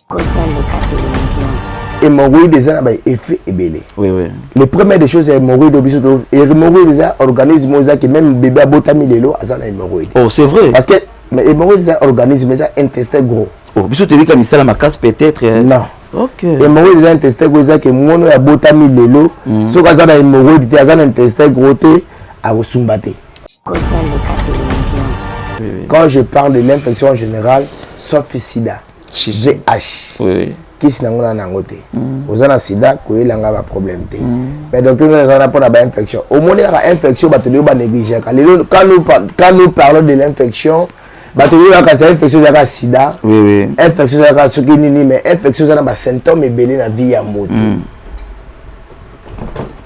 kosa leka television hémorroïde eza na ba effet ebele oui, oui. le premier des choses ya hémorroïde oyo biso to hémorroïde eza organisme oyo ezaki même bébé abotami lelo aza na hémorroïde oh c'est vrai parce que mais hémorroïde eza organisme eza intestin gros oh biso toyebika misala makasi peut-être eh. non okay. hémorroïde eza intestin gros ezaki mono ya botami lelo mm. soki aza na hémorroïde te aza na intestin gros te akosumba te kosa leka television quand je parle de l'infection en général sauf sida chez VH. Oui, oui. kisi nango na nango te mm. oza na sida koyela nga ba problème te mm. mais docteur nzala ezala mpona ba infection omoni kaka infection bato lelo ba négligeaka lelo quand nous parlons de l'infection bato lelo kaka sa infection ezalaka sida oui, oui. infection ezalaka soki nini mais infection eza na ba symptôme ebele na vie ya moto mm.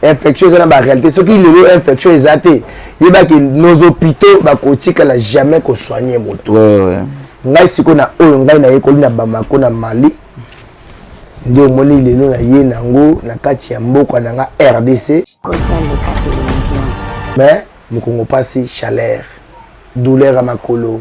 infection eza na baréalité soki lelo infection eza te yebaki nos hôpitaux bakotikala jamais kosoigne moto ngai sikoyo na oyo ngai nayekoli na bamako na mali nde omoni lelo na ye nango na kati ya mboka na nga rdc mais mokongo mpasi chaleur douleur ya makolo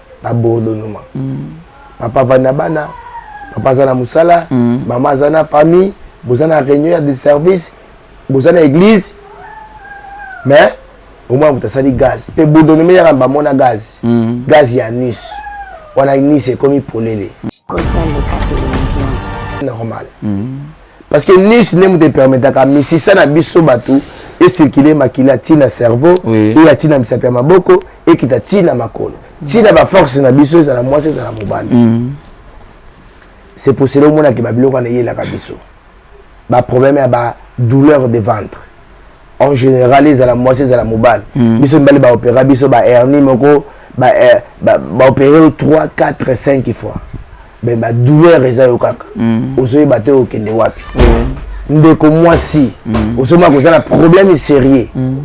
ba bourdonnement papa avandi na bana papa aza na mosala mama aza na famille boza na réunion ya de service boza na église mais omona moto asali gaz mpe bourdonnement eyaka bamona gaz gaz ya nus wana nus ekomi polele kozaleka televizio normal parce que nice nde moto epermetaka misisa na biso bato ecircule makila ti na cerveau Oui. eya ti na misapi ya maboko ekita ti na makolo ti na baforce na biso ezala mwasi ezala mobali c'est posele omonake babiloko wana eyelaka biso baproblème ya badouleur de ventre en général ezala mwasi ezala mobali biso mibali baopera biso bahernie moko baopere 3 4 5 fois mais ba douleur eza yo kaka mm. ozoyeba te okende wapi mm. ndeko mwasi mm. ozomona koza na problème sérieux mm.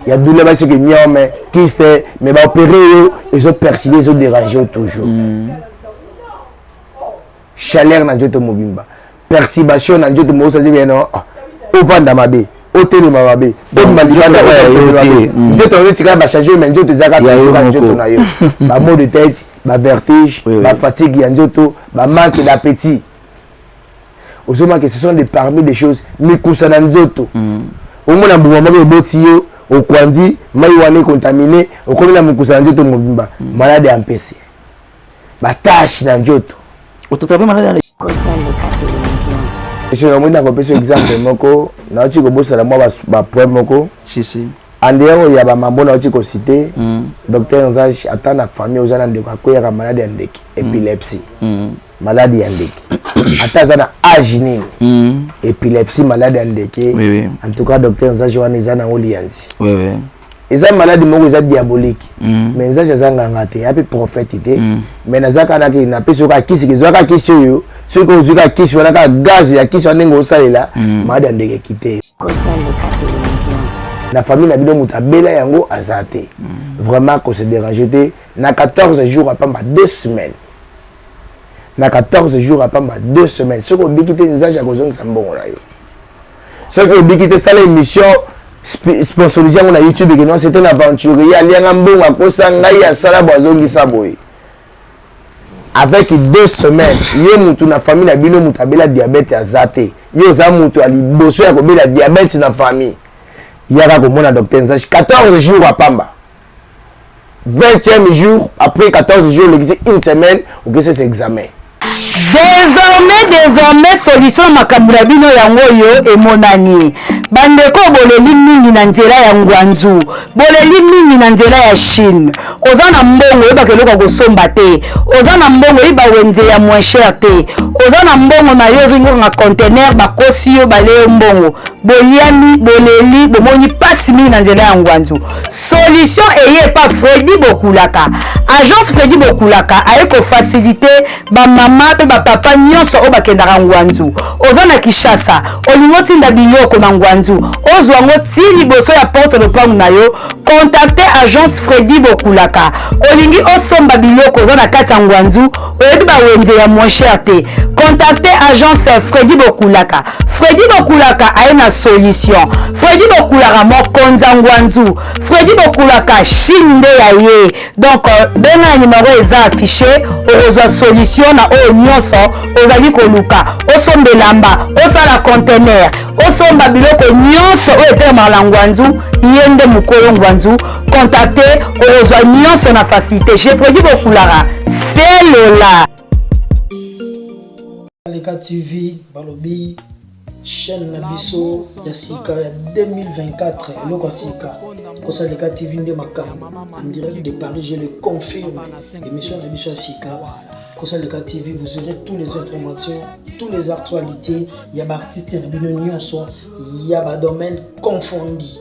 ya douleur basi soki miao mais kiste mais baopere yo ezopersibe ezoderange yo toujours mm. chaleur na nzoto mobimba perturbation na nzoto mokosi azebi eno ah, ovanda mabe otelema mabe obima libanda mm. nzoto yango etikala bachange me nzoto eza kaka nzoto na yo bamo de tete bavertige bafatigue ya nzoto bamanque d'appétit ozomake ce sont des parmi des choses mikusa na nzoto mm. omona mbuma moko eboti yo okwanzi mai wana ekontamine okomi na mokusa na nzoto mobimba mm. malade ya mpese ba tache na njoto otataba maladi na kosaleka television esoki namoni nakopesa exemple moko nauti kobosana mwa bapoint moko andeyao ya bamambo nauti kosite mm. docteur nzage ata na famille oza na ndeko akweyaka maladi ya ndeke mm. epilepsie mm. maladi ya ndeke ata aza na age nini mm. epilepsie maladi ya ndeke oui, oui. en tout cas docteur nzage wana eza nango liyanzi oui, oui. eza maladi moko eza diabolique mm. mais nzambe aza nganga te ape prophète te mm. mais naza kaka nake napesi yoka kisi kezwa kaka kisi oyo soki ozwi kaka kisi wana kaka gaz ya kisi wana ndenge osalela mm. maladi ya ndenge kite na famille na bino moto abela yango aza te mm. vraiment kose dérange te na 14 jours apamba 2 semaines na 14 jours apamba 2 semaines soki obiki te nzambe akozongisa mbongo na yo soki obiki te sala émission sponsorise yango na youtube eke non c'est un aventurier alianga mbongo akosa ngai asala bo azongisa boye avec deux semaines ye mutu na famille na bino mutu abela diabète aza te yo oza mutu ya liboso ya kobela diabète na famille yaka komona docteur nzashi 14 jours apamba 20e jour après 14 jours olekisi une semaine okesesa examen désormais désormais solution na makambo na bino yango oyo emonani bandeko boleli mingi na nzela ya ngwanzu boleli mingi na nzela ya chine oza na mbongo oyebaka eloko ya kosomba te oza na mbongo oyeba wenze ya moins cher te oza na mbongo na yo ozongi kokanga contener bakosi yo baleyo mbongo boliami boleli bomoni mpasi mingi na nzela ya ngwanzu solution eye epa fredi bokulaka agence fredi bokulaka aye kofasilite bamama mpe bapapa nyonso oyo bakendaka ngwanzu oza na kinshasa olingi otinda biloko na ngwanzu ozwa yango ti liboso ya porte lopango na yo kontakte agence fredi bokulaka olingi osomba biloko oza na kati ya ngwanzu oyebi bawenze ya moins cher te contacte agence fredi bokulaka fredi bokulaka aye na solution fredi bokulaka mokonza ngwanzu fredi bokulaka chine nde ya ye donc euh, benga ya nimero eza affiche okozwa solution na oyo nyonso ozali koluka osomba elamba osala contener osomba biloko nyonso oyo etelemaka na ngwanzu ye nde mokolo ngwanzu contacte okozwa nyonso na facilité je produit bokulaka selola leka tv balobi chaîne na biso ya sika ya 2024 eloko ya sika kosala leka tv nde makambo en direct de paris je le confirme émission na biso ya sika kosala leka tv vous aurez tous les informations tous les actualités ya baartiste na bino nyonso ya badomaine confondi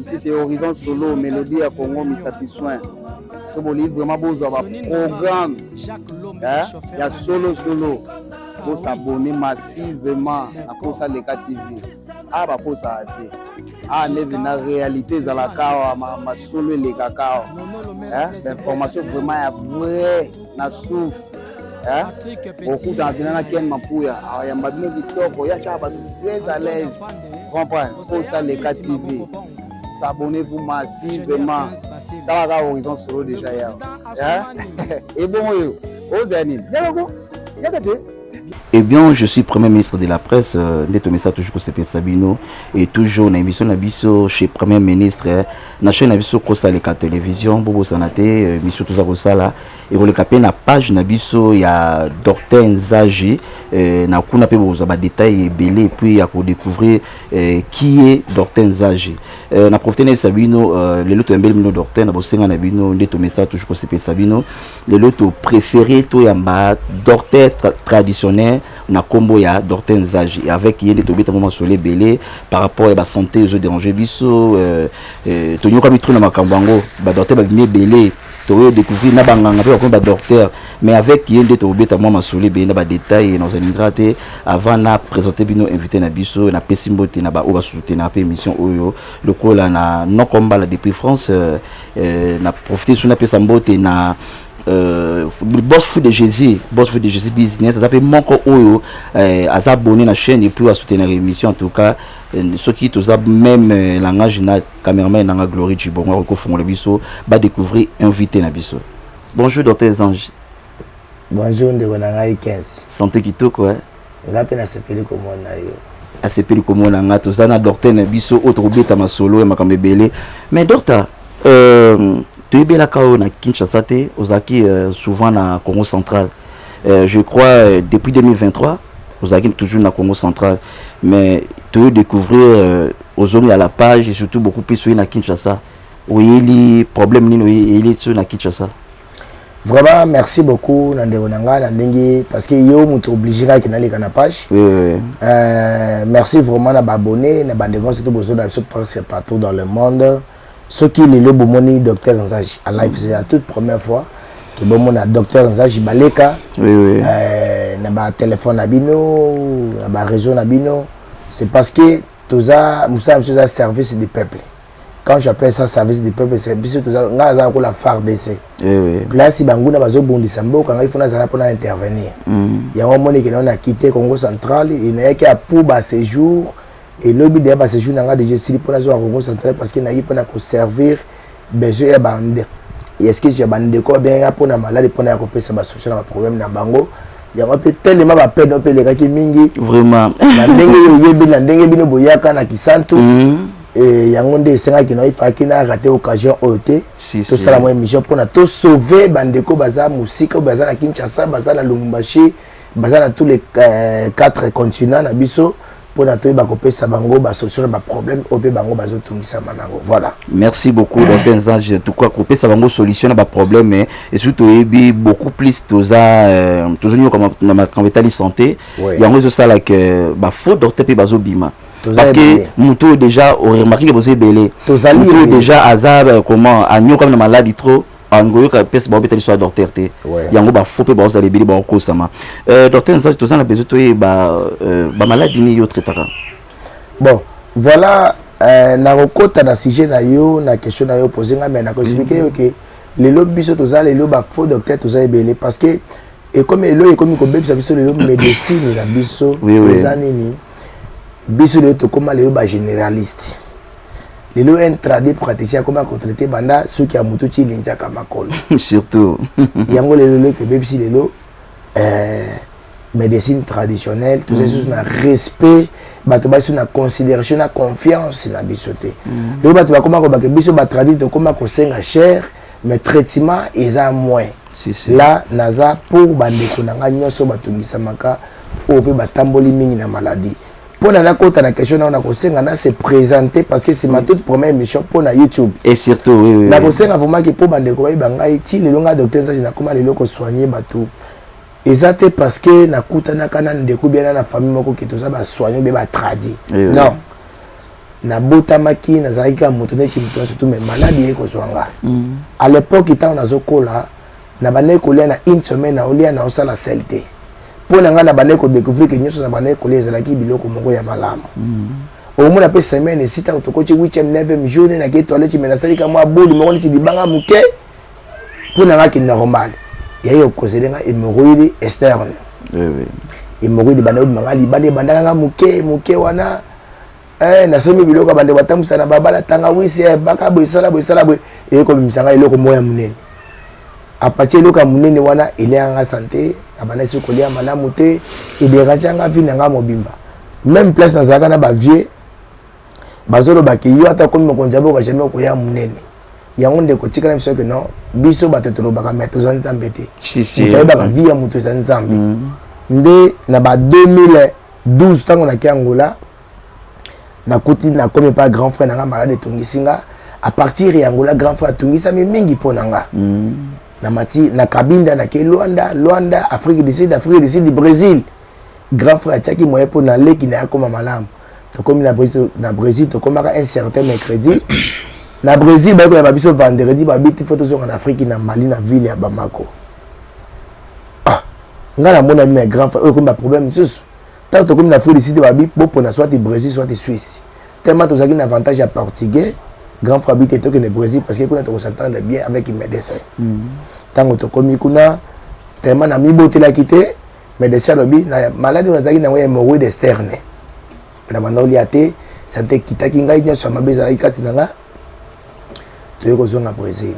ici c'est horizon solo melodie ya congo misapi soin so bolingi vraiment bozwa baprogramme eh, ya solo solo bosabone massivement na posa leka tv a ah, baposaka te a ah, neve na réalité ezalaka awa masolo elekaka awa eh, bainformation vraiment ya vrai na souffle eh? okutana mpena na ken mapuya ayamba bino kitoko ya tyaka bato très à l'aise comprendre posa leka tv s'abonner vous masi vraiment tala kaka horizon solo déjà ya ebongo yo ozala nini yaloko yaka te Eh bien, je suis Premier ministre de la Presse, euh, Neto Messa toujours Kosepin Sabino, et toujours na émission na biso chez Premier ministre, euh, na chaîne na biso Kosale ka télévision, Bobo Sanate, euh, biso tous à Kosala, et on le capé na page na biso ya Dorten Zage, euh, na kuna pe bozo ba détails et belé, puis à découvrir euh, qui est Dorten Zage. Euh, na profité na Sabino, euh, le loto mbele mino Dorten, na bosenga na bino, Neto Messa toujours Kosepin Sabino. lelo to prefere toyamba docteur tra traditionnel na nkombo ya docteur nzage avec ye nde tobeta mwa masolo ebele par rapport ya basanté ezo dérange biso euh, euh, tonyokami trop na makambo yango badocteur babimi ebele toyo découvrir na banganga mpe bakomi badocteur mais avec ye nde tokobeta mwa masolo ebele na badetail nazolingra te avant na présente bino invité na biso napesi mbote na baoyo basutenaka mpe émission oyo lokola na nokombala depuis france euh, Euh, na profite soki napesa mbote na Euh, boss fou de jésus boss fou de jésus business aza mpe moko oyo euh, aza abonné na chaîne et puis asoutenir émission en tout cas euh, soki toza même euh, langage na cameraman nanga glorie cibongo akoki kofungola biso badécouvrir invité na biso bonjour docteur ange bonjour ndeko na ngai 15 santé kitoko eh? Nga pe nasepeli komona yo. Asepeli komona nga toza na docteur na biso oyo tokobeta masolo ya makambo ebele mais docteur euh, toyebelaka oyo na Kinshasa te ozalaki euh, souvent na Congo central euh, je crois euh, depuis 2023 ozalaki toujours na Congo central mais toyo découvrir euh, ozongi à la page et surtout beaucoup plus oye na Kinshasa oyeli problème nini oyeli soki na Kinshasa vraiment merci beaucoup na ndeko na ngai na ndenge parce que yo moto oblige kaki naleka na page oui, oui. Euh, merci vraiment na baabonné na bandeko nyonso to bozo na biso presque partout dans le monde soki lelo bomoni docteur nzaji à live c'est la toute première fois ke bomona docteur nzaji baleka oui, oui. Euh, na batelefone na bino na bareseau na bino c'est parce que toza mosala biso eza service du peuple quand j'appelle ça service du peuple c'est biso toza nga naza lokola fardc eh place banguna bazobundisa mboka ngai fona azala mpona intervenir mm. yango omoneke nao na kite congo central inayaki ya pour ba séjour elobi deya ba séjour na nga deja esili mpo nazwa congo central parce que nayi mpona koservir besoin ya bande excuse ya bandeko babengaki nga mpona maladi mpona ya kopesa basolution na baproblème na bango yango mpe telema bapene mpe elekaki mingi vraiment na ndenge oyebi na ndenge bino boyaka na kisantu mm. Et yango nde esengaki na ifaki na raté occasion oyo te tosala mwa émission mpona tosauve bandeko baza mosika baza na kinshasa baza na lumumbashi baza na tous les euh, quatre continents na biso mpona toyeba kopesa bango basolution na baproblème oyo mpe bango bazotungisama nango voilà merci beaucoup docteur nzange tuka kopesa bango solution na baproblème eh, esoki toyebi beaucoup plus toza euh, tozonioka na makambo etali santé yango ezosala ke bafaux docteur mpe bazobima parce que moto oyo déjà oremarke ke boza ebele moto oyo déjà aza euh, comment anyokami na maladi trop angoyoka mpese baobeta biso ya docteur te yango bafo mpe baozala ebele baokosama euh, docteur nzati toza na besoin toyeba euh, bamaladi nini yo traitaka bon voilà nakokota na sujet na yo na question na yo pose ngai mai nakoexplike mm. yo ke lelo biso toza lelo bafaux docteur toza ebele parce que ekomi eloko ekomi kobebisa biso lelo médecine na biso eza nini biso lelo tokóma lelo bagénéraliste lelo un trade praticien akomi akotraite banda soki ya motu ti linzaka makolo surtout yango lelo lelo tobebisi lelo euh, médecine traditionnelle tozali mm. susu na respect bato basi na considération na confiance na biso te mm. lelo bato bakoma kobake biso batradi tokoma kosenga cher mais traitement eza moins si, si. la naza pour bandeko na ngai nyonso batungisamaka oyo mpe batamboli mingi na maladie mpo na nakota na question nao nakosenga na se présente parce que c'est ma toute première émission mpo na youtube et surtout oui, oui, nakosenga vraiment ke mpo bandeko bayeba ngai ti lelo ngai docteur zage nakoma lelo kosoigne bato eza te parce que nakutanaka na ndeko biana na famille moko ke toza basoigne mpe batradi oui, oui. non nabotamaki nazalaki kaka moto neti moto nyonso tu me maladi yei kozwa nga mm. à l'époque ntango nazokola nabandaki kolia na une semaine naolia naosala sel te mpo na ngai nabandaki kodécouvrir ke nyonso nabandaki kolia ezalaki biloko moko ya malamu mm. omona mpe semaine esi ntango tokoti 8e 9e jour nde nakei toilette me nasalika mwa boli moko neti libanga moke mpo na ngai ke normal yaye okozele ngai hémorroïde externe hémorroïde ebandaki obima ngai libanda ebandaka ngai moke moke wana eh, nasombi biloko ya bandeko batambusa na babala tangawisi eh, baka boye sala boye sala boye eye komimisa ngai eloko moko ya monene apati eloko ya monene wana eleyaka nga sante nabandaki kolia malamu te ederange yanga vi na nga mobimba même place nazalaka na bavieux bazoloba ke yo ata okomi mokonzi ya boka jamais okoya monene yango ndeko tikala biso ke non biso bato tolobaka me toza nzambe te moto ayebaka vi ya moto eza nzambe mm. nde na ba 2000 12 ntango nake angola nakuti nakomi epai grand frère na ngai malade etongisi nga a partir ya angola grand frère atungisami mingi mpo na nga mm. na mati na kabinda nake luanda luanda afrique du sud afrique du sud brésil grand frère atiaki moyen mpo na leki na ye akoma malamu tokomi na brésil, na brésil tokomaka un certain mercredi na brésil bayekoyamba biso vendredi babiti fo tozonga na afrique na mali na ville ya bamako ah nga na mona bino ya grand frère oyo ekomi ba problème mosusu ntango tokomi na afrique du sud babi bopona soit brésil soit suisse tellement tozalaki na avantage ya portugais grand frère bite tokende brésil parce que kuna tokosantendre bien avec médecin ntango mm. tokomi kuna tellement namibotelaki te médecin alobi na maladi oyo nazalaki nango ya hémorroïde externe na banda olia te sante ekitaki ngai nyonso ya mabe ezalaki kati na ngai toyei kozonga brésil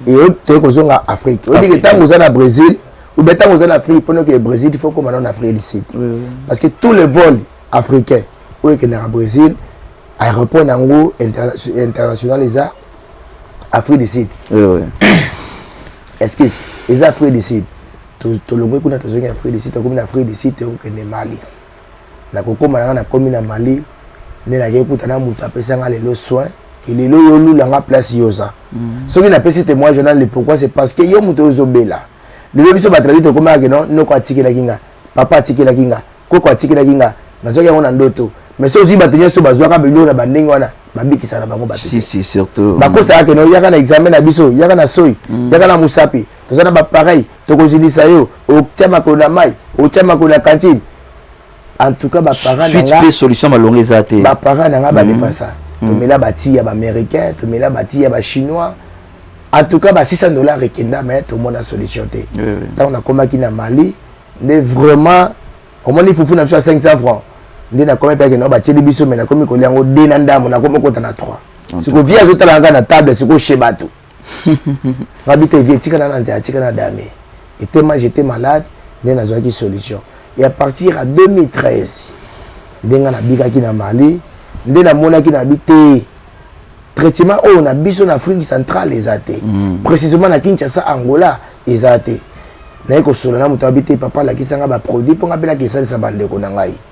mm. toyei kozonga afrique oyebi ke ntango oza na brésil oubien ntango oza na afrique mpona okende brésil il faut okoma nao na afrique du sud parce que tous les vols africains oyo ekendaka brésil aéroport na yango international eza afrique du sud excuse eza afrique du sud tolongwe kuna tozongi afrique du sud tokomi na afrique du sud tokokende mali na kokoma na nga na komi na mali nde nakei kuta na moto apesa nga lelo soin ke lelo yo olula nga place yoza mm. soki napesi témoignage wana le pourquoi c'est parce que yo moto ozobela lelo biso bato na biso tokomaka ke non noko atikelaki nga papa atikelaki nga koko atikelaki nga nazwaki yango na ndoto mais soki ozwi bato nyonso bazwaka biloko na bandenge wana babikisa na bango bato bakosaka ke no yaka na examen na biso yaka na soi mm. yaka na mosapi toza na bapareil tokozilisa yo otia makolo na mai otia makolo na kantine en tout cas baparent nanga solution malonga eza te baparent nanga badepasa mhm. mhm. tomela bati ya baaméricain tomela bati ya bachinois en tout cas ba 600 dollars ekenda mais tomona solution te ntango nakomaki na mali nde vraiment omoni fufu na biso ya 500 francs nde nakomi mpe akenda batieli biso me nakomi kolia yango de na ndambo nakomi okota na 3 siko vie azotala ngai na table siko chez bato ngabi te vie etikala na nzela atika na dame etema j'étais malade nde nazwaki solution et à partir ya 2013 nde nga nabikaki na mali nde namonaki na bi te traitement oyo na biso na afrique centrale eza te mm. précisément na kinshasa angola eza te naye kosolola na moto abi te papa alakisanga baproduit mpo nga mpe nake esalisa bandeko na ngai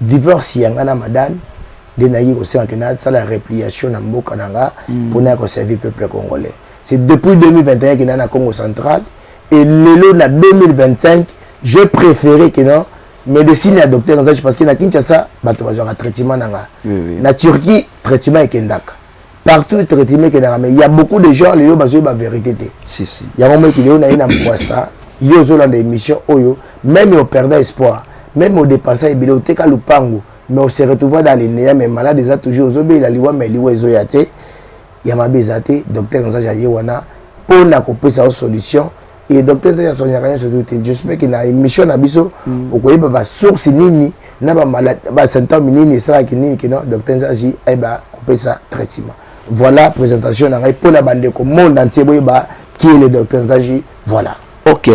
divorce ya nga na madame nde nayaki kosenga ke nasala repliation na mboka na nga mpo mm. naya koservir peuple congolais c'est depuis 2021 ke naa na congo central et lelo na 2025 je préféré ke non médecine ya docteur nzachi parce que na kinshasa bato bazwaka traitement na nga na turquie traitement ekendaka partout traitement ekendaka mais ya beaucoup de gens lelo bazoyi ba vérité te si, si. yango moyekili yo naye na mpwasa yo ozolanda émission oyo même operda espoir même odepensa ebele oteka lupangu mais ose retrouva dans linéa mais malade eza toujours ozobelela liwa mais liwa ezoya te ya mabe eza te docteur nzaja ye wana mpo na kopesa yo solution et docteur zaki asonyaka nyonso tu te j'espère que na émission na biso mm. okoyeba basource nini na basymptome nini esalaki nini kino docteur nzazi ayeba kopesa traitement voilà présentation na ngai mpo na bandeko monde entier boyeba qui est le docteur nzaji voilà ok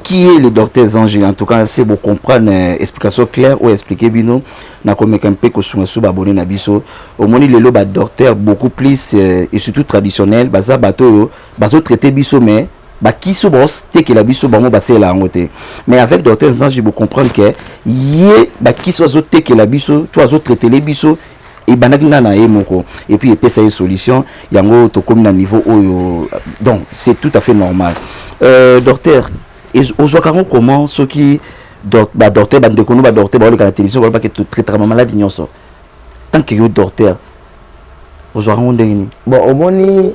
qui est le docteur Zangi En tout cas, c'est pour comprendre euh, explication claire ou expliquer bino. Na komeka mpe kosunga su abonné na biso. Omoni lelo ba docteur beaucoup plus euh, et surtout traditionnel, baza bato yo, bazo traiter biso mais bakisi oyo bazotekela biso bango basalela yango te mais avec docteur nzange bocomprendre ke ye bakisi oyo azotekela biso to azotraitele biso ebandaki nga na ye moko epuis epesa ye solution yango tokomi na niveau oyo donc c'est tout à fait normal euh, docteur ozwaka yango comment soki badocteur bandeko no badocteur baoleka na télévision balobaki totraitaka bamaladi nyonso tant que yo docteur ozwaka yango ndenge nini bon omoni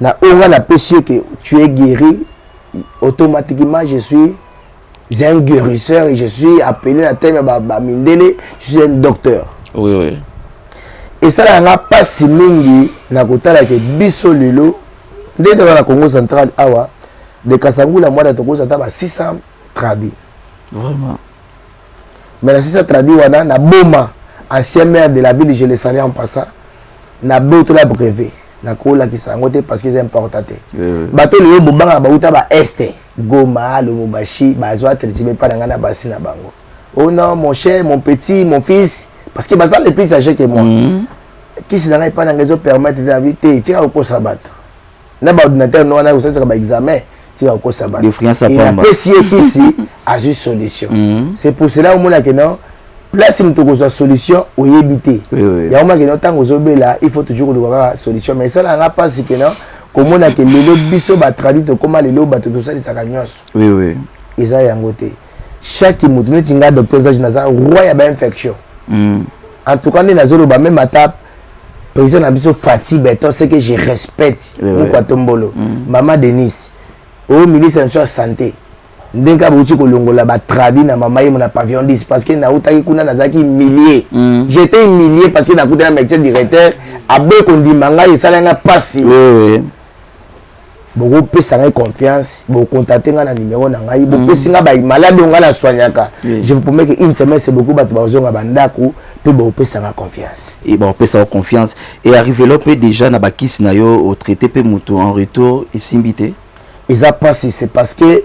na oyo nga napesi yo ke tu es guéri automatiquement je suis un guérisseur et je suis appelé na teme ba, ba mindele je suis un docteur oui, oui. esalaka nga mpasi mingi na kotala ke biso lelo nde toza na congo central awa de kasangula mwana tokosa ata ba 600 tradi vraiment mais na sisa traduit wana na boma ancien maire de la ville je le salue en passant na botola brevet nakolakisa yango te parce que eza importa te euh. bato lelo bobanga bauta ba este goma lubumbashi bazwa tretime epai na ngai na basi na bango oh non mon cher mon petit mon fils parce que baza le plus age que moi mm -hmm. kisi na ngai epai na ngai ezopermettre na vie te tika kokosa bato na ba ordinateur no wana kosalisa ba examen tika kokosa bato apesi ye kisi azwi solution mhm. c'est pour cela omona ke non place moto kozwa solution oyebi te yango maki no ntango ozobela il faut toujours koluka kaka solution mais esala yanga mpasi ke non komona ke lelo biso batradi tokóma lelo bato tosalisaka nyonso eza yango te chaque moto neti nga docteur zage naza roi ya bainfection mhm. en tout cas nde nazoloba meme ata Président na biso Fatsi Beton, c'est que je respecte oui, Mukwa Tombolo, mm. Maman Denise, au ministre de la Santé, ndenge kaka bouti kolongola batradi na mama ye na pavillon 10 parce que nautaki kuna nazalaki millier mm. j'étais millier parce que nakutana médecin directeur aboyi kondima ngai esala nga mpasi oui, oui. bokopesa ngai confiance bokontate ngai na numero na ngai mm. bopesi ngai bai malade oyo ngai naswaniaka je vous promets que une semaine c'est beaucoup bato bakozonga bandako mpe bopesaka confiance e bapesaka confiance e arrivelo mpe déjà na bakisi na yo otraite mpe moto en retour esimbi te eza mpasi c'est parce que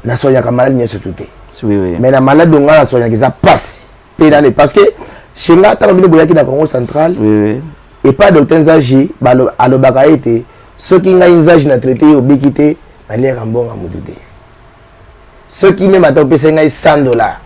nasoyaka maladi nyonso tu te mais na maladi onga nasoyaka eza mpasi pe nane parce que chez nga ntango bino boyaki na congo central epa docteur nzaji alobaka ete soki ngai nzaji na traite yo obiki te naliaka mbongo ya motu te soki meme ata opesai ngai 100 dollar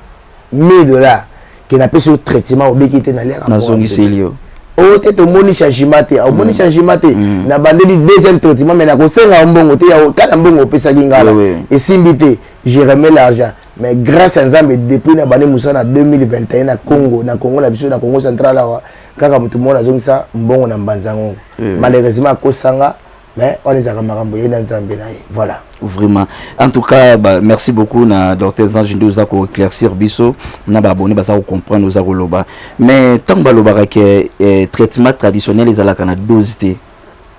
1000 dollar ke napesi yo traitement obiki te naliaka nazongiseli yo oyo te tomoni changement te omoni mm. changement te mm. nabandeli deuxième traitement mais nakosenga yo mbongo te kana mbongo opesaki ngala esimbi te je remets l'argent mais grâce ya nzambe depuis na bande mosala na 2021 na congo na congo na biso na congo central awa kaka motu moko nazongisa mbongo na mbanza yango mm. malheureusement akosanga mais wana ezalaka makambo ye na nzambe na ye voilà vraiment en tout cas bah, merci beaucoup na docteur zange nde oza koéclaircir biso na baabonné baza kocomprendre oza koloba mais ntango balobaka ke eh, traitement traditionnel ezalaka na dose te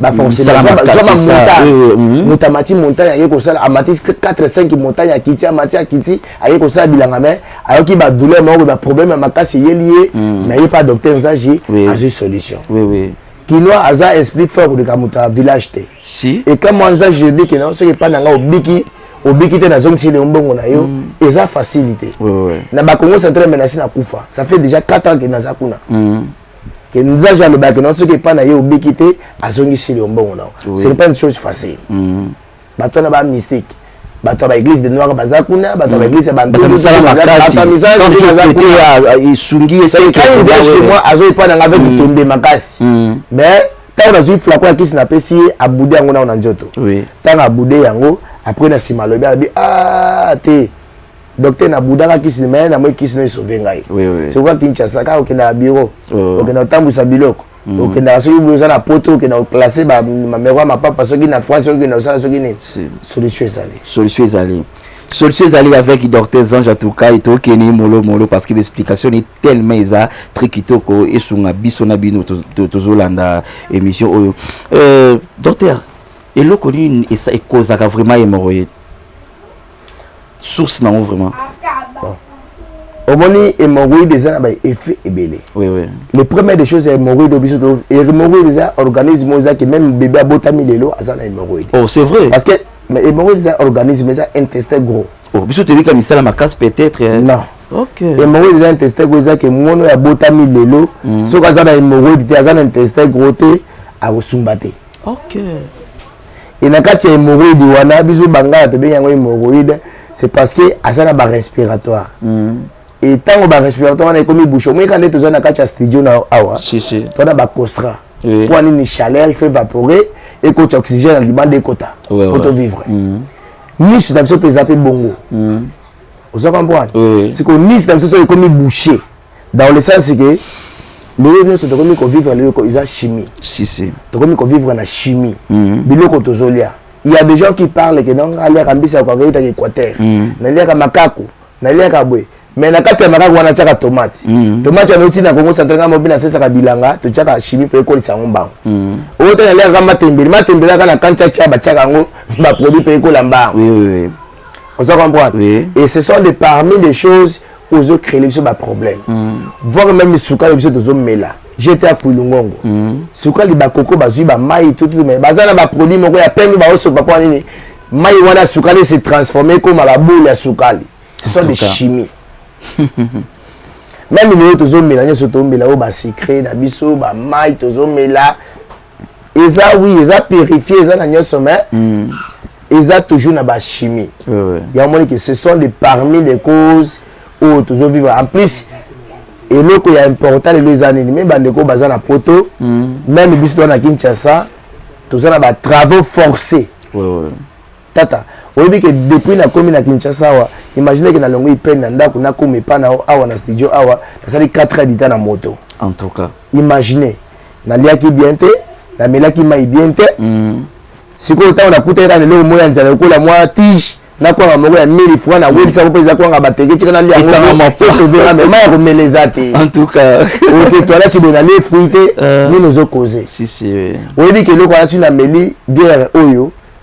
baforcemotamati montagne aye kosala amati 45 montagne akiti amati akiti aye kosala bilanga mai ayoki badouleur moko baproblème ya makasi eyeli ye mm. mais ye pa docteur nzaji azwi solution kinois aza esprit fort koleka moto ya village te et quand moi nzaji ebi kena soki epai na ngai obiki obiki te nazongisi leo mbongo na yo mm. eza facilité na bakongo central menasi na kufa ça fait déjà 4 ans ke naza kuna mm. que nzaja alobaka que non soki epai na ye obiki te azongisi yo mbongo na yo ce n'est pas une chose facile mm. bato wana ba mystique bato ya baeglise de noir baza kuna bato ya baeglise ya bantuesungi chez moi azo epai nanga avec litembe mm. makasi mm. mais ntango nazwi flako ya kisi napesi ye abude yango nao na nzoto ntango abude yango apres na nsima alobi alobi a ah, te docteur na budaka kisi na maye na moi kisi na esove ngai sikoka kinshasa kaka okendaka bureau okenda kotambwisa biloko mm. okendaka soki boye oza na poto okenda koklasse bamameko ya mapapa soki na france soki okenda kosala soki nini solution ezali solution ezali solution ezali avec docteur zange atukai tokeni molo molo parce que baexplication ni tellement eza très kitoko esunga biso na bino tozolanda émission oyo euh, docteur eloko nini ekozaka vraiment hémorroïde source nango vraiment bon. omoni hémorroïde eza na baeffet ebele oui, oui. le premier des choses ya hémorroïde biso hémorroïde eza organisme oyo ezaki même bébé abotami lelo aza na hémorroïde oh, c'est vrai parce que hémorroïde eza organisme eza intestin gros oh, biso toyebi ka misala makasi peut-être eh. non hémorroïde eza intestin gros ezaki mono ya botami lelo mm. soki aza na hémorroïde te aza na intestin gros te akosumba te okay. e na kati ya hémorroïde wana biso bangala tobengi yango hémorroïde c'est parce que aza na barespiratoire mm. e ntango barespiratoire wana ekomi bouche omoyeka nde toza na kati ya studio na awa si, si. to na bacostra oui. mpo anini chaleur il faut évaporer ekota oxygène na libanda ekota ouais, ouais. otovivre mm. nice na biso mpe eza mpe bongo mm. oza comprendre oui. sikoyo nice na biso soki ekomi boucher dans le sens que lelo nyonso tokomi kovivre lelo eza chimie si, si. tokomi kovivre na chimie mm -hmm. biloko tozolia il y a des gens qui parlent que donc aliaka mbisa yako akoyitaka équateur mm -hmm. naliaka makaku naliaka boye mais na kati ya makaku wana tiaka tomate mm -hmm. tomate wana euti na kongo central ngai mobi nasesaka bilanga totiaka chimie mpe ekolisa yango mbango mm -hmm. oyo te naliaka matembele matembele aka na kantiatia batiaka yango baproduit mpe ekola mbango oui, oui, oui. oza comprendre oui. et ce sont des parmi des choses ozo créer biso ba problème mm. voir même sukali biso tozo mela j'étais à Kouilungongo mm. sukali ba koko bazui ba mai tout tout mais bazana ba produit moko ya pembe ba oso papa nini mai wana sukali se transformer comme la boule ya sukali ce sont des chimies même lelo tozomela nyonso tomela oyo basecret na biso bamai tozomela eza oui eza purifie eza na nyonso mais mm. eza toujours na bachimie oui, oui. yango omoni ke ce sont de parmi les causes oyo tozo vivre en plus eloko ya important lelo eza nini me bandeko baza na poto mm. meme biso toza na kinshasa toza na batravaux forcé oui, oui. Tata, oyebi ke depuis na komi na Kinshasa awa, imagine ke na longwe peine na ndaku na komi epa na awa na studio awa, na sali 4 heures du temps na moto. En tout cas. Imagine, na liaki bien te, na melaki mai bien te. Mm. Sikoyo tango na kuta eka lelo moya nzala lokola mwa tige, na kwanga moko ya 1000 francs na webisa ko pesa kwanga bateke tika na lia ngo. Tika ma po so vera mais maya ko meleza te. En tout cas. Oke toilette si bona le fruit te, euh. ni nous okoze. Si si. Oyebi ke loko asi na meli bière oyo.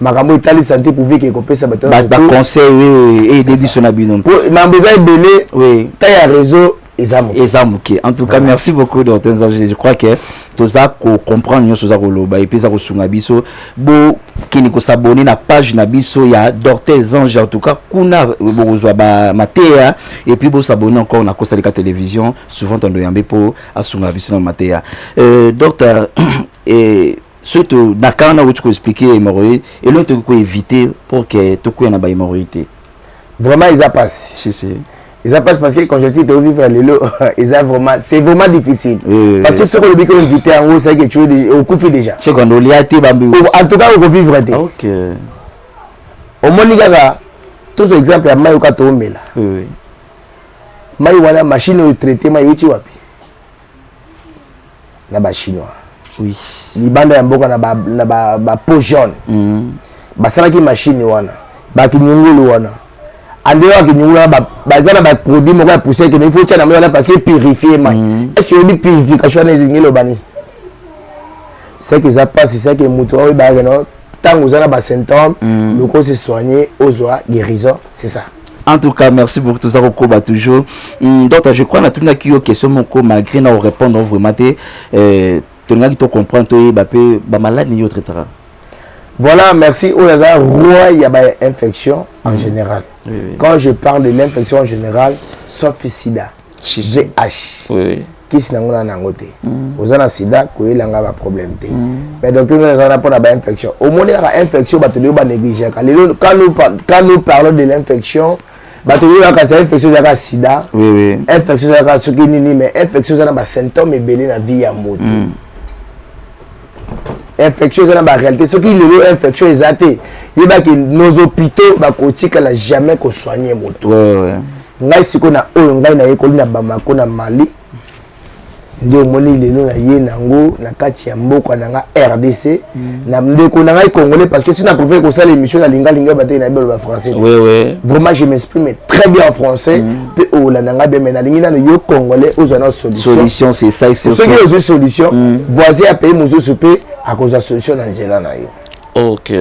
makambo etali sante publique ekopesa bato baconseil oui eyede eh, biso na bino mambo eza ebele oui ta ya réseau eza moke eza moke en tout cas merci beaucoup docteur nzambe je crois que toza kocomprendre nyonso oza koloba epuis eza kosunga biso bokende kosabone na page na biso ya docteur zange en tout cas kuna bokozwa bamateya epuis bosabone encore na kosalika télévision souvent tando yambe mpo asunga biso na mateya euh, docteur eh, soki to na kanga nakuti ko expliquer hémorroïde eloko tokoki ko éviter pour que tokwea na ba hémorroïde te vraiment eza pasi si, si. eza pasi parce que conjoncture to vivre lelo eza vraiment c'est vraiment difficile oui, parce que soki olobi ko invité yango osaki ecuedi okufi déjà sekondo olia te bambi en tout cas okovivre te okay. omoni kaka tozwa exemple ya mai oka toomela oui, oui. mai wana machine oyo traite mai euti wapi na ba chinois oui. libanda ya mboka na ba, na ba, ba peau jaune mm. basalaki machine wana bakinyungulu wana ande oyo akinyungulu wana baza na baproduit moko ya poussière kende ifo otya na mai wana parce que purifie mai mm. est ce que oyebi purification wana ezingi eloba nini seke eza mpasi seke moto oyo bayake no ntango oza na basymptome mm. luka ose soigne ozwa guérison c'est ça en tout cas merci beaucoup toza kokoba toujours mm, docteur je crois natunaki yo question moko malgré na orépondre vraiment te eh, tolingaki tocomprendre toyeba mpe bamaladi nini yo traitaka voilà merci oyo aza roi ya bainfection en mm. général oui, oui. quand je parle de l'infection en général sauf sida vh oui. kisi nango na nango te mm. oza na sida koyela nga baproblème te mm. mais docteur nzala ezalana mpo na bainfection omoni kaka infection bato leo banegligeaka lelo quand nous parlons de l'infection bato oyebaka sa infection ezalaka sida infection ezalaka soki nini mais infection eza na basymptôme ebele na vie ya moto mm. infection eza na baréalité soki lelo infection eza te yebaki nos hôpitaux bakotikala jamais kosoigne moto ngai sikoyo na oyo ngai nayekoli na bamako na mali nde omoni lelo na ye nango na kati ya mboka na nga rdc mm. na ndeko na ngai congolais parce que si na préfère kosala émission na lingalinga batei na ye baloba français vraiment je m'exprime très bien en français mm. mpe olanda ngai bien mais nalingi nano yo congolais ozwa nao solution c'est ça soki ozwi solution mm. voisin ya pays mosusu mpe akozwa solution na nzela na yo ok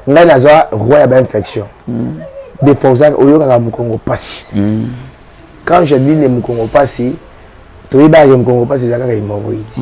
ngai nazwa roi ya bainfection mm. de forza oyokaka mokongo mpasi mm. quand je dis ne mokongo mpasi toyebaka ke mokongo mpasi eza kaka hemoroïde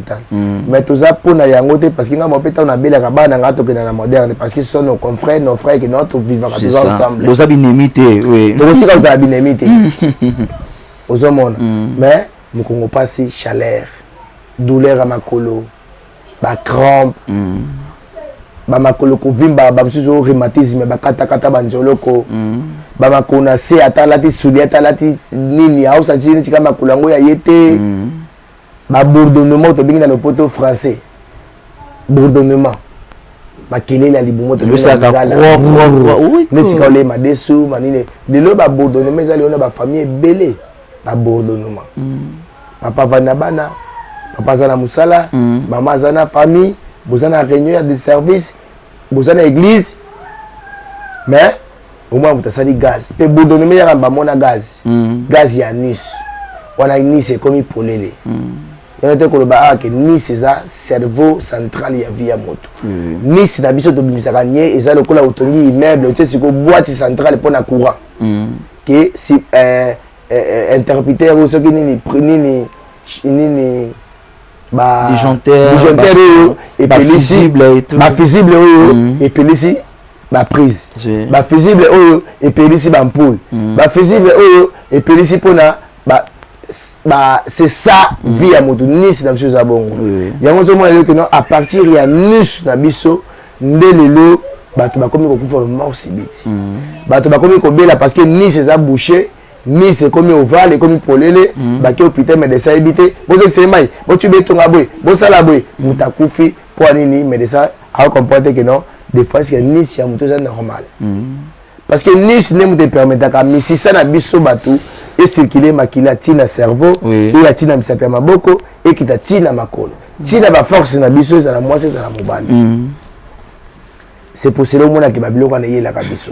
hopital mm. mais toza mpo na yango te parce que ngai mope ntango nabelaka bana ngai tokenda na moderne parce que son nos confrères nos frères que nao tovivaka toza ensemble toza binemi te tokotika kozala binemi te ozomona mm. mais mokongo mpasi chaleur douleur ya makolo bacrampe mm. bamakolo kovimba bamosusu rhumatisme bakatakata banzoloko mm. bamakolo na se ata alati sudi ata alati nini aosanti nini tika makolo yango ya ye te mm. ba bourdonnement tobengi na lopoto français bourdonnement makelele ya libumu tobesika ole madesu manini lelo ba bourdonnement eza lelo na ba famille ebele ba bourdonnement mm. papa avandi na bana papa aza na mosala mm. mama aza na famille boza na réunion ya de service boza na église mais omona moto asali gaz mpe bodoneme yaka bamona gaz mm. gaz ya nice wana nice ekomi polele mm. yango te koloba awa ah, ke nice eza cerveau central ya vie ya moto mm. nice na biso tobimisaka nie eza lokola otongi immeuble otie sikoyo boite centrale mpo na courant mm. ke si, eh, eh, eh interpreter oyo soki nini nini nini ba disjoncteur oyo epelisi ba fusible oyo epelisi baprise bafusible oyo epelisi bampoule mm. bafusible oyo epelisi mpona ba, ba, c'est ça mm. vie ya moto nisi na biso eza bongo yango ozomona lelo keno à partir ya nus na biso nde lelo bato bakomi kokufa bamor sibiti mm. bato bakomi kobela parce que nisi eza boucher nisi ekomi ovale ekomi polele bake hôpital medecin ayebi te bozokisele mai botubi etonga boye bosala boye moto akufi Mpo nini medecin a comprendre que non des fois que nisi ya moto eza normal parce que nisi nde moto epermetaka misisa na biso bato ecircule makila ti na cerveau eya ti na misapi ya maboko ekita ti na makolo ti na baforce na biso ezala mwasi ezala mobali c'est pour cela omonaka babiloko wana eyelaka biso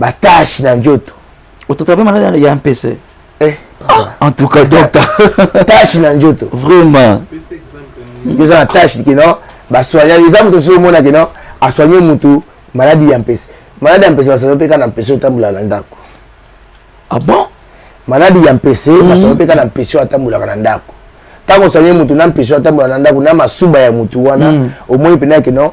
ba tache na njoto otataba malade ya mpese eh, ah, en tout cas docteur tache na njoto vraiment eza na tache kino basoigna eza moto soki omona kino asoigne motu maladi ya mpese maladi ya mpese basoigna mpe kaka na mpese otambola na ndako ah bon maladi ya mpese mhm. basoigna mpe kaka na mpese oyo atambolaka na ndako ntango osoigne motu na mpese oyo atambola na ndako na masuba ya motu wana mhm. omoni mpenza kino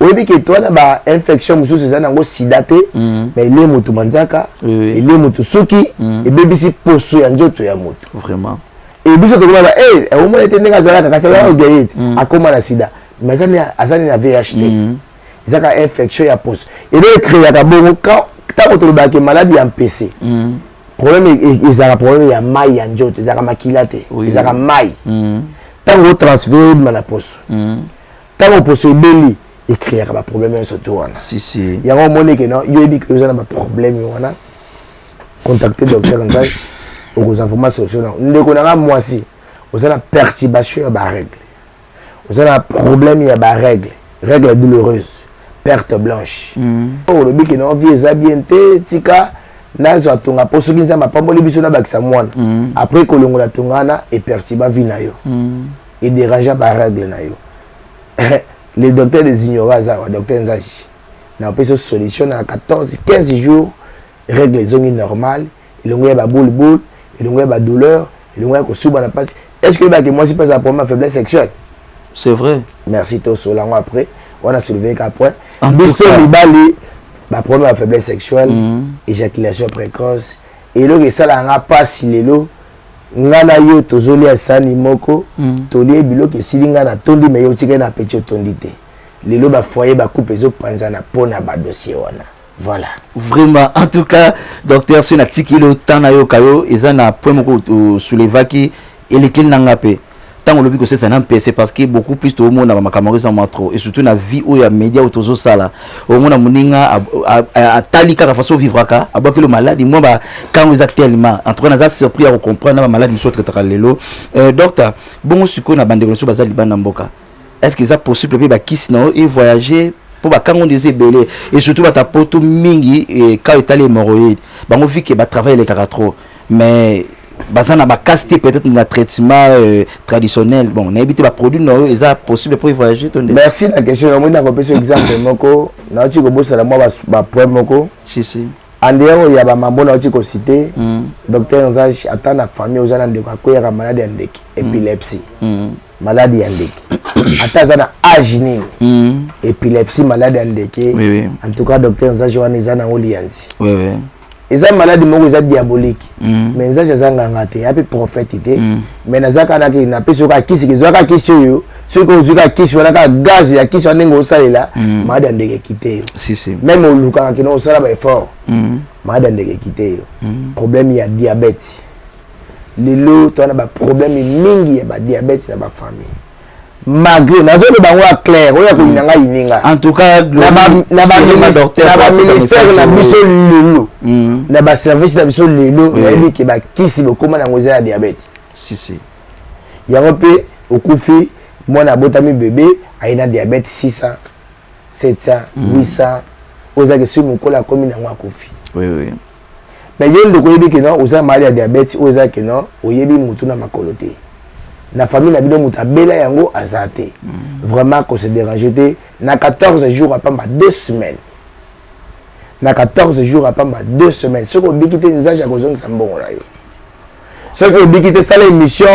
oyebi ke towana ba infection mosusu eza nango sida te mm. mais elie moto manzaka elie moto suki mm. ebebisi poso ya nzoto ya moto vraiment e biso tokoma ba e eh, omona ete ndenge azalaka kasi azalaka mm. ogaye ete akoma na sida mais aza nini na vih te ezaka infection ya poso ebe ekreaka bongo ntango tolobaka ke maladi ya mpese problème e, e, ezalaka problème ya mai ya nzoto ezalaka makila te ezalaka mai ntango otransfere ebima na poso ntango poso ebeli ecreaka baproblème nyonso to wana yango omoni ke no yo yebi oza na baproblème wana contacte docteur nzage okozwa vraimen solution nango ndeko nanga mwasi oza na perturbation ya barègle oza na problème ya barègle règle douloureuse perte blanche mm. olobi ke no vie eza bien te tika nazwa tonga mpo soki nzambe apamboli biso nabakisa mwana mm. après kolongola tonga wana epertiba vie na yo mm. e derangea ba règles na yo le docteur des ignorants aza awa docteur nzaji na opesi solution na 14 15 jours règle ezongi normal elongo ya ba boule boule elongo ya ba douleur elongo ya kosuba na mpasi est ce que oyebaki mwasi mpe azala problème ya faiblesse sexuelle c'est vrai merci tosola yango après wana soulevé ka point biso mibali baproblème ya faiblesse sexuelle mm. éjaculation précoce eloko esalaka nga mpasi lelo nga na yo tozolia sani moko mm. tolie biloko esili nga natondi me yo otikali na apeti otondi te lelo bafoye bakupe ezopanzana mpo na badossier wana voilà vraiment en tout cas docteur soki natikeli otan nayoka yo eza na point moko osoulevaki elekeli na nga mpe ntango olobi kosesa na mpese parce que beaucoup plus toomona bamakambo eza mwa trop et surtout na vie oyo ya média oyo tozosala omona moninga atali kaka façon ovivraka abwakilo maladi mwa bakango eza tellement en tout cas naza surpris ya kocomprendre na bamaladi mosusu otraitaka lelo euh, docteur bongo sikoyo na bandeko na biso baza libanda mboka est ce que eza possible mpe bakisi na yo e voyage mpo bakanga nde eza ebele e surtout bata poto mingi e, ka etali hémorroïde bango vi ke batravail elekaka trop mais baza na bakasi te peut-être na traitement euh, traditionnel bon nayebi te baproduit na yo eza possible mpo evoyage to nde merci na question yango nde nakopesa exemple moko nauti kobosana mwa bapoint moko si si andeyao ya bamambo nauti kosite mm. docteur nzage ata na famille oza na ndeko akweyaka maladi ya ndeke mm. epilepsie mm. malade ya ndeke ata aza na age nini mm. epilepsie malade ya ndeke oui, oui. en tout cas docteur nzaji wana eza nango liyanzi oui, oui. eza maladi moko eza diabolique mm. mais nzaji aza nganga te ape prophète te mm. mais naza kaka nake napesi oka kisi kezwa kaka kisi oyo soki ozwi kaka kisi wana kaka gaz ya kisi wana ndenge osalela mm. maladi ya ndeke ekite yo si, si. meme olukaka kina osala baeffort mm. maladi ya ndeke ekite yo mm. problème ya diabète lelo toza na baproblème mingi ya badiabete na bafamille malgré nazoloba yango ya claire oyo akoyina ngai yininga na baministère na biso lelo mm. na baservice na biso lelo nayebi ke bakisi bokoma nango eza ya diabete yango mpe okufi mwana abotami bebe aye na diabete 600 700 800 ozalaki soki mokolo akomi nango akufi Mais yo ndeko oyebi que non oza malade ya diabète oyo eza que non oyebi mutu na makolo te. Na famille na bino mutu abela yango aza te. Mm. Vraiment ko se déranger te na 14 jours à pamba 2 semaines. Na 14 jours à pamba 2 semaines. Soko biki te nzaji akozongisa mbongo na yo. Soko obiki te sala émission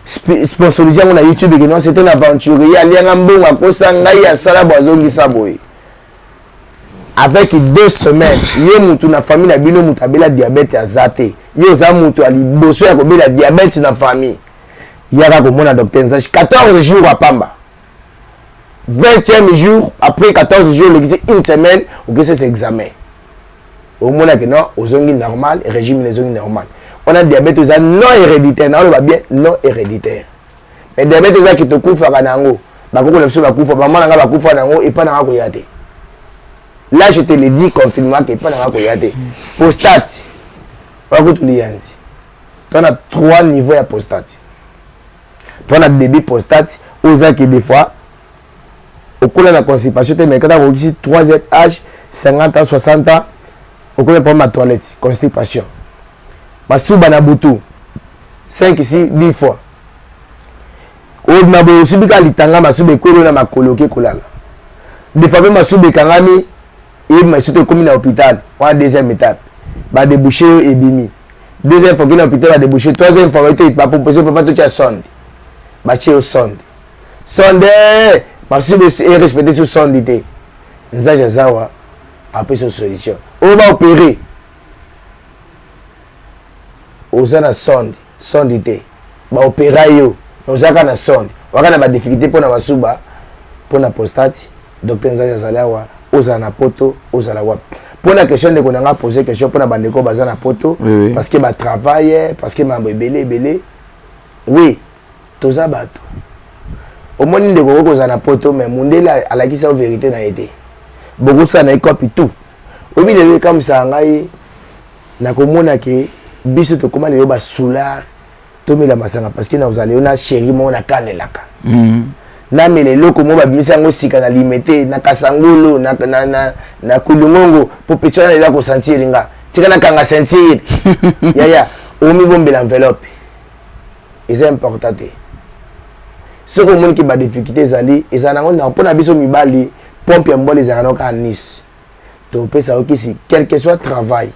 sponsorisé yango na youtube ekeno c'est un aventurier alianga mbongo akosa ngai asala bo azongisa boye avec deux semaines yo mutu na famille na bino mutu abela diabète aza te yo oza mutu ya liboso ya kobela diabète na famille yaka komona docteur nzashi 14 jours apamba 20e jour après 14 jours olekisi une semaine okesi ese examen omonaki non ozongi normal régime na ezongi normal wana diabète eza non héréditaire naoloba bien non héréditaire mais diabète eza ki tokufaka na yango bakoko na biso bakufa bamama na ngai bakufa na yango epai na ngai koya te là je te le dis confirmement que epai na ngai koya te postate bakutu liyanzi to na trois niveau ya postate to na début postate ozaki des fois okola na constipation te mais kata kokisi 3 age 50 ans 60 ans okola problème ya toilette constipation masuba na butu 5 si 10 fois obima boye osubi kaka litanga masuba ekweli na makolo oke kolala defa mpe masuba ekangami eyebi masuto ekomi na hôpital wana deuxième étape badebouche yo ebimi deuxième fois okei na hôpital badebouche troisième fois baite bapropose papa totya sonde batye yo sonde sonde basusu besi erespecte so sondi te nzaji azawa apesa solution oyo baopere oza na sonde sonde te baopera yo ozalaka na sonde waka na badifficulté mpo na basuba mpo na prostate docteur nzali azali awa ozala na poto ozala wapi mpo na question ndeko na ngai pose question mpo na bandeko baza na poto oui, oui. parce que batravaille parce que mambo ebele ebele oui toza bato omoni ndeko okoki kozala na poto me mundele alakisi yo verité na ye te bokosala na ye kopi tout oyebi lelo ekamwisaka ngai nakomona ke biso tokóma lelo basoulard tomela masanga parce que nakozala lelo na chéri moko nakanelaka mm. namela eloko moko babimisi yango sika na limete na kasangolo na, na, na, na kulungongo mpo petso wana lelo akosantir nga tika nakanga sentir yaya omibombela enveloppe eza important te soki omoni ke badifficulté ezali ezala nango ntango mpo na biso mibali pompe ya mobali ezalaka nao kaka nice topesa yo kisi quelque soit travail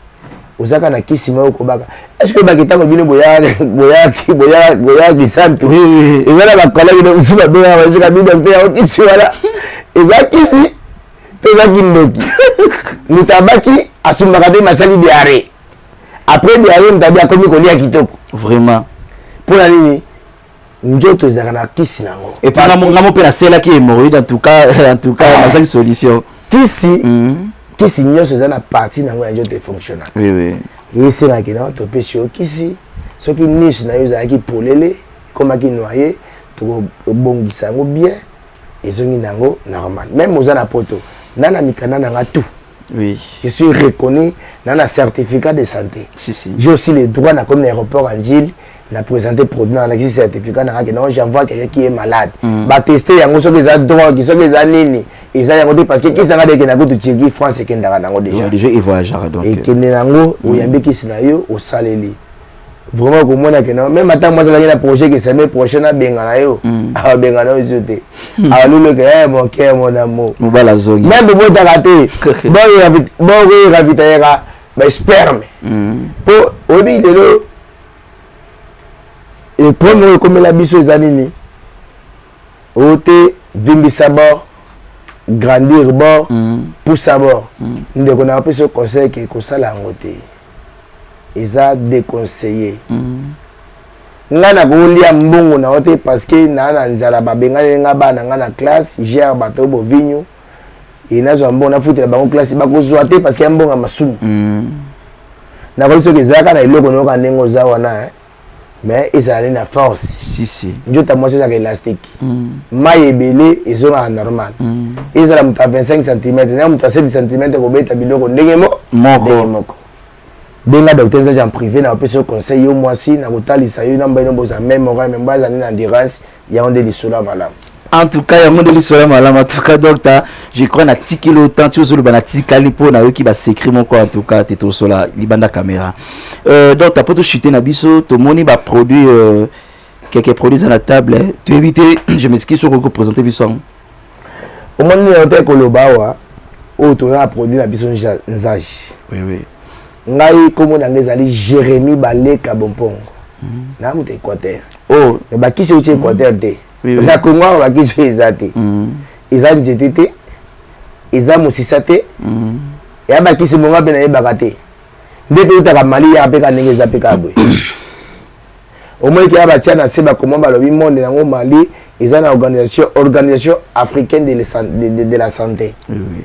ozaka na kisi moko okobaka estce oyebaki ntango bino boyaki santu eza na bakolaki na mosu babengaka bazika bi docteur yango kisi wana eza kisi to eza kindoki moto abaki asumbaka te masali diare après de aye mtabi akomi kolia kitoko vraiment mpo na nini nzoto ezalaka na kisi na yango epangamongamo mpe naselaki hémorroïde en tout cas en tout cas ah. nazwaki solution kisi mm. kisi nyonso eza na parti na yango ya nzoto efonctionna esengaki na topesi yo kisi soki niche na yo ezalaki polele ekomaki noye tokobongisa yango bien ezongi na yango normal meme oza na poto nana mikanda na nga tout Oui. Je suis reconnu dans un certificat de santé. Si, si. J'ai aussi le droit dans comme aéroport en Gilles na présenter produit na lakisi certificat na kaki non j'envoie quelqu'un qui est malade mm. ba tester yango soki eza drogue soki eza nini eza yango te parce que kisi nanga deke na kutu Turquie France ekendaka nango déjà déjà et voyagera donc ekende nango mm. oyambi kisi na yo osaleli vraiment okomona ke na meme ata mwasi azalaki na projet ke semaine prochaine abengana yo hmm. abengana yo zio te hmm. aluluka e eh, mon cœur mon amour mobala azongi meme bobotaka te bokoyeka vitayeka basperme mpo hmm. oyebi lelo eprome oyo ekomela biso eza nini oyo te vimbisa bor grandir bor pusa bor ndeko na apesi yo conseil ke kosala yango te eza deconseille nga nakolia mbongo na yo te parce que naa na nzala babenganeli nga bana nga na classe gère bato oyo bovinyu e nazwa mbongo nafutela bango classe bakozwa te parce que ya mbongo ya masumu mm. nakoki soki ezalaka na eloko nayoka ndenge oza wana eh? mais ezala nde na force si, si. njota mwasi ezalaka elastique mm. mai ebele ezongaka normal mm. ezala moto ya 25 cm na moto ya 7 cm kobeta biloko ndenge mo moko moko benga docteur nzaji en privé na bapesi yo conseil yo mwasi na kotalisa yo na mbaino boza meme orai me mbaza nde na endurance yango nde lisolo ya malamu en tout cas yango nde lisolo ya malamu en tout cas docteur je crois natikeli otan ti ozoloba natikali mpo nayoki basecret moko en tout cas te tosola libanda caméra euh, docteur mpo tochute na biso tomoni baproduit euh, quelques produits eza na table toyebi te je m'excuse soki okoki kopresente biso yango omoni yango te koloba awa oyo toza na produit na biso nzage oui, oui. ngai kombo na ngai ezali jérémi baleka bompongo mm. na moto équateur oh. me bakisi euti équateur mm. te oui, oui. na kongo awa bakisi oyo eza te mm. eza nzete te eza mosisa te mm. ya bakisi monga mpe nayebaka te nde mpe eutaka mali yaka mpe ka ndenge eza mpe ka boye omoniki ya batya na se bakoma balobi monde yango mali eza na organisation organisation africaine de, de, de, de la santé oui, oui.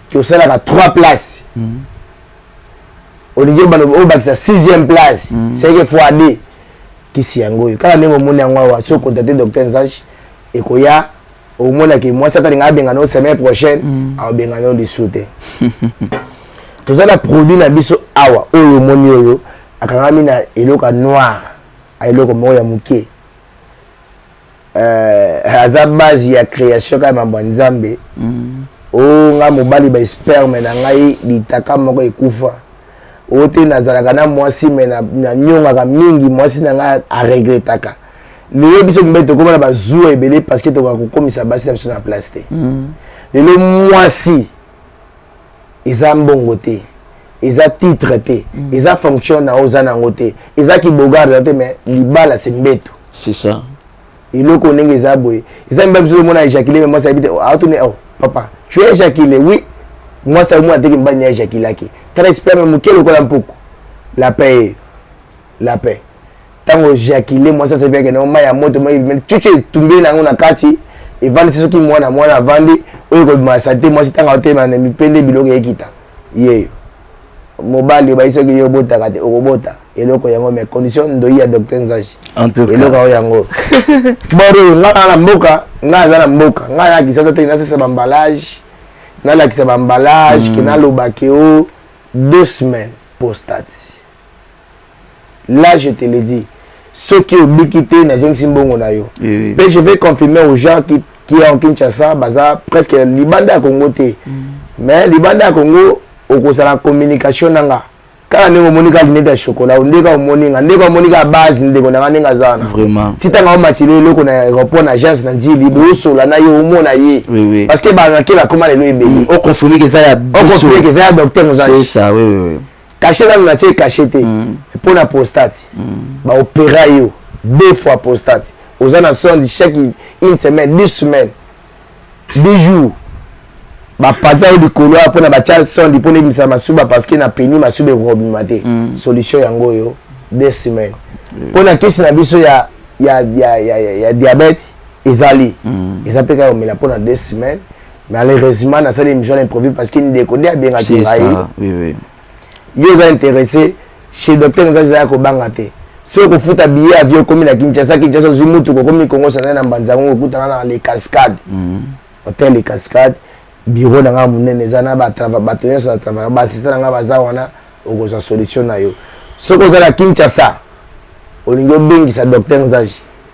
tosalaka 3 place mm. olingi obakisa 6e place mm. seke fois d kisi yango oyo kaka ndenge omoni yango awa soki okontate docteur nzashi ekoya omonaki mwasi atalinga abengana yo semaine prochaine mm. aobengana yo lisu te toza na produit na biso awa oyo omoni oyo akangami na eloko ya noir eloko moko ya moke euh, aza base ya création kaka mambo ya nzambe mm. o oh, nga mobali ba sperme na ngai litaka moko ekufa oyo te nazalaka na mwasi me nanyongaka mingi mwasi na ngai aregretaka lelo biso mibali tokoma na bazuwa ebele parce que tokoka kokomisa basi na biso na place te mm. lelo mwasi eza mbongo te eza titre te mm. eza fonction na oza nango te eza kibogarde te mais libala se mbeto c'est ça eloko ndenge eza boye eza mibali biso omona éjaculé mais mwasi ayebi te aotuni oh, oh papa tu es éjaculé oui mwasi omona teke mibali ni éjaculaki tala esperme moke lokola mpuku lapin eyo la paix ntango ejakile mwasi asabi akende yango mai ya moto mai ebimeli cucu etumbeli na yango na kati evandi ti soki mwana mwana avandi oyo ekobima sante mwasi ntango aotelema na mipende biloko ekita yeyo mobali obayi soki yo obotaka te okobota eloko yango mais condition ndoyi ya docteur nzaji eloko yango yango boro nga na mboka nga aza na mboka nga na kisasa te nasesa bambalage nalakisa bambalage ke hmm. naloba ke o deux semaines postati là je te le dis soki obiki te nazongisi mbongo na yo mpe je vais confirmer aux gens qui, qui est en kinshasa baza presque libanda ya congo te mm. mais libanda ya congo okozala communication na nga kaka ndenge omoni kaka linete ya chokola nde kaka omoni nga ndeko omoni kaka base ndeko na nga ndenge aza wana vraiment ti ntango aomatili eloko na aéroport na agence na nzili bosola na ye omona ye parce que banakela akoma lelo ebeli okonsomeke eza ya biso okonsomeke eza ya docteur mozali kashe nanu natie kashe te mm. mpo na prostate mm. baopera yo deux fois prostate oza na sonde chaque une semaine deux semaines deux jours bapanza yo likolo awa mpo na batya sonde mpo na ebimisa masuba parce que na peni masuba ekobima te mm. solution yango oyo deux semaines mpo na kisi na biso ya, ya, ya, ya, ya, ya diabète ezali mm. eza mpe kaka omela mpo na deux semaines malheureusement nasali émission na improvise parce que ndeko nde abengaki ngai yo oza intéressé chez docteur nzai ezalaki kobanga te soki kofuta billet avio okomi na kinshasa kinshasa ozwi mutuka okomi kongo sanai na mbanza yango okutana na le cascade mhm. hotel le cascade biro na ngai monene eza na bato nyonso na travail baasista na ngai baza wana okozwa solution na yo soki oza na kinshasa olingi obengisa docteur nzai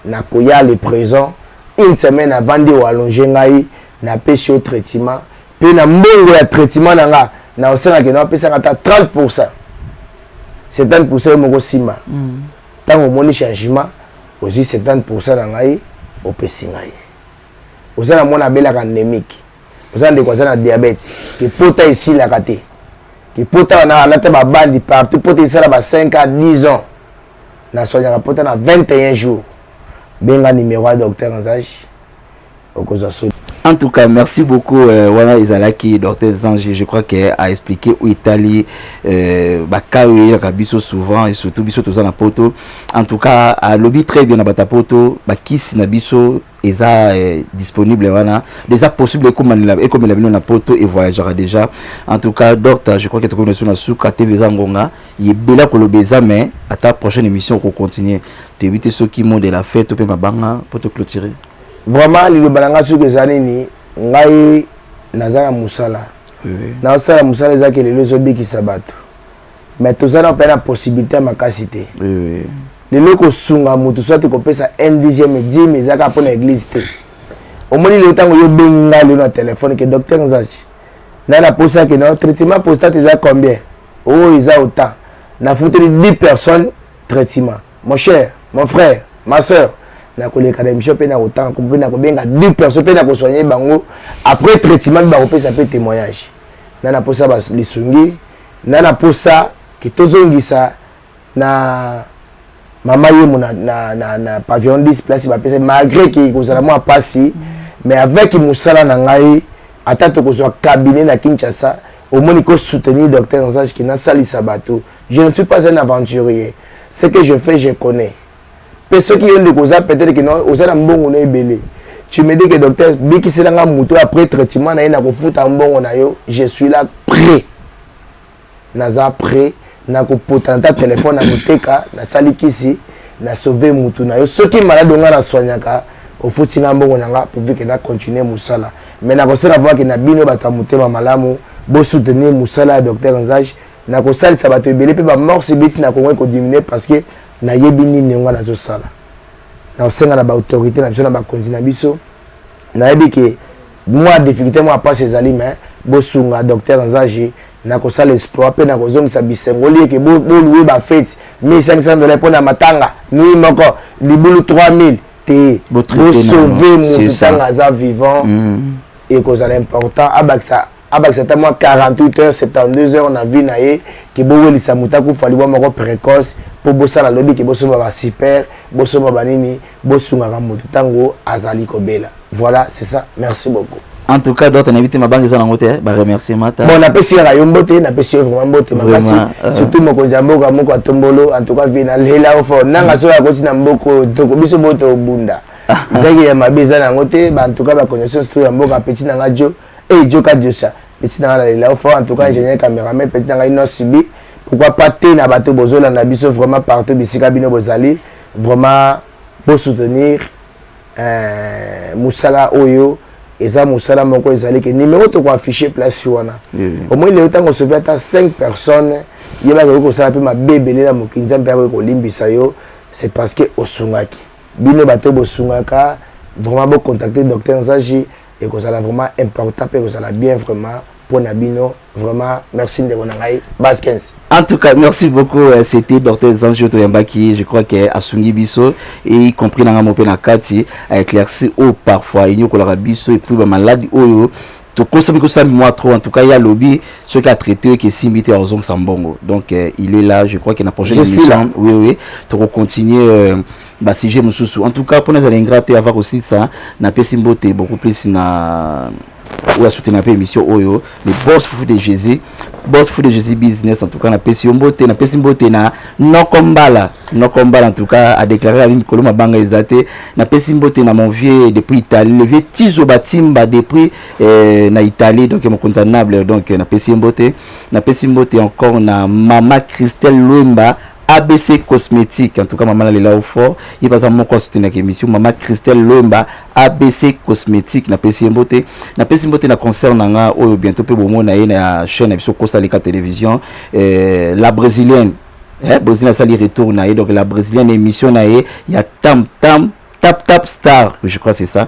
nakoya le présent une semaine avant nde oallonge ngai napesi yo traitement mpe na mbongo ya traitement na nga na osenga kende apesaka ata 30 pourcent 70 pourcent yo moko nsima ntango mm. omoni changement ozwi 70 pourcent na ngai opesi ngai oza na mwana abelaka anemique oza ndeko aza na diabete kipota esilaka te kipota wana alata babandi partout pota esala ba 5 a 10 ans na soignaka pota na 21 jours benga numéro ya docteur nzage okozwa soli en tout cas merci beaucoup euh, wana ezalaki docteur zange je crois que a expliqué oyo etali euh, bakai oyo eyelaka biso souvent et surtout biso toza na poto en tout cas alobi très bien na bata poto bakisi na biso eza eh, disponible wana eza possible ekomanela ekomela bino na poto e voyagera déjà en tout cas docteur je crois que tokomi na suka te eza ngonga yebela koloba eza mais ata prochaine émission ko continuer toyebi te soki mot de la fête to pe mabanga po to clôturer vraiment liloba na ngai soki eza nini ngai naza na mosala nasala mosala ezaki lelo ezobikisa bato mais toza na pe na possibilité makasi te lelo kosunga moto soit kopesa un dixième dime eza kaka mpo na église te omoni lelo ntango yo obengi ngai lelo na telefone ke docteur nzachi ngai naposa ke na traitement postate eza combien oyo oh, eza autant nafuteli 10 personnes traitement mon cher mon frère ma soeur nakoleka na émission mpe nakotanga mpe nakobenga 10 personnes mpe nakosoigne bango après traitement mpe bakopesa mpe témoignage ngai naposa lisungi N'a na posa ke tozongisa na mama yemo na, na, na, na pavillon 10 place bapesa malgré ke kozala mwa pasi mm. mais avec mosala na ngai ata tokozwa cabinet na kinshasa omoni ko soutenir docteur nzage ke nasalisa bato je ne suis pas un aventurier ce que je fais je connais mpe soki yo ndeko oza peut-être que oza na mbongo na ebele tu me dis que docteur bikisela nga moto oyo après traitement na ye nakofuta mbongo na yo je suis là prêt naza prêt nakopotana ta telefone na koteka nasali kisi na sauve motu na yo soki maladi onga na soignaka ofuti nga mbongo na nga pourvu ke na continue mosala me nakosala vrake na bino bato ya motema malamu bosoutenir mosala ya docteur nzage nakosalisa bato ebele mpe bamorse ebeti na kongo ekodiminue parce que nayebi nini ngai nazosala nakosenga na baautorité na biso na bakonzi na biso nayebi ke mwa difficulté mwa mpasi ezali me bosunga docteur nzaji nakosala exploit mpe nakozongisa bisengo lieke bolue bafeti 1500 dola mpo na matanga nui moko libulu 3000 te bosauve motu ntango aza vivant mm. ekozala important abakisa abakisa ata mwa 48 heures 72 heures na vie na ye ke bowelisa moto akufa liwa moko précoce mpo bosala lobi ke bosomba basuper bosomba banini bosungaka moto ntango azali kobela voilà c'est ça merci beaucoup en tout cas d'autres nayebi te mabanga eza nango te baremerciement ta bon napesi yaka yo mbote napesi yo vraiment mbote makasi euh. surtout mokonzi ya mboka moko atombolo en tout cas vie nalela yo fort nanga soki akoti na mboka oyo toko biso boto obunda ezalaki ya mabe eza na yango te en tout cas baconnaissance to ya mboka petit nanga jo Hey, eh, Joka Josa, petit nanga na lela ofa en tout cas ingénieur cameraman petit nanga ino subi pourquoi pas te na bato bozolanda biso vraiment partout bisika bino bozali vraiment bosoutenir euh, mosala oyo eza mosala moko ezali ke numéro tokoaffiche place wana omoi lelo ntango osovi ata 5 personnes ye bakoki kosala mpe mabe ebele na mokili nzambe akoki kolimbisa yo c'est parce que osungaki bino bato bosungaka vraiment bocontacte docteur nzaji ekozala vraiment important mpe ekozala bien vraiment mpo na bino vraiment merci ndeko na ngai baskens en tout cas merci beaucoup euh, c'était docteur zange toyambaki je crois que asungi biso et y compris nanga mo mpe na kati aéclairci oyo parfois enyokolaka biso epuis bamaladi oyo tokosami kosala mwa trop en tout cas ya lobi soki atraite eke esimbi te akozongisa mbongo donc euh, il est là je crois que na prochaine émission oui oui tokocontinue euh, ba sujet mosusu en tout cas mpona ezala ingrat te ava kosilisa napesi mbote beaucoup plus na oyo asutena mpe émission oyo le boss fufu de jésus boss fufu de jésus business en tout cas napesi yo mbote napesi mbote na noko mbala noko mbala en tout cas adéclare abi mikolo mabanga eza te napesi mbote na mon vieux depuis italie le vieux tizo batimba depuis eh, na italie donc mokonzi ya nable donc napesi ye mbote napesi mbote encore na mama christelle lwemba abc cosmétique en tout cas mama nalela yo fort ye baza moko asoutenaka émission mama christelle lwemba abc cosmétique napesi ye mbote napesi mbote na concert na nga oyo bientôt mpe bomona ye na chaîne na biso kosalika télévision eh, la brésilienne eh, brésilienne asali retour na ye donc la brésilienne émission na ye ya tam tam tap tap star je crois c'est ça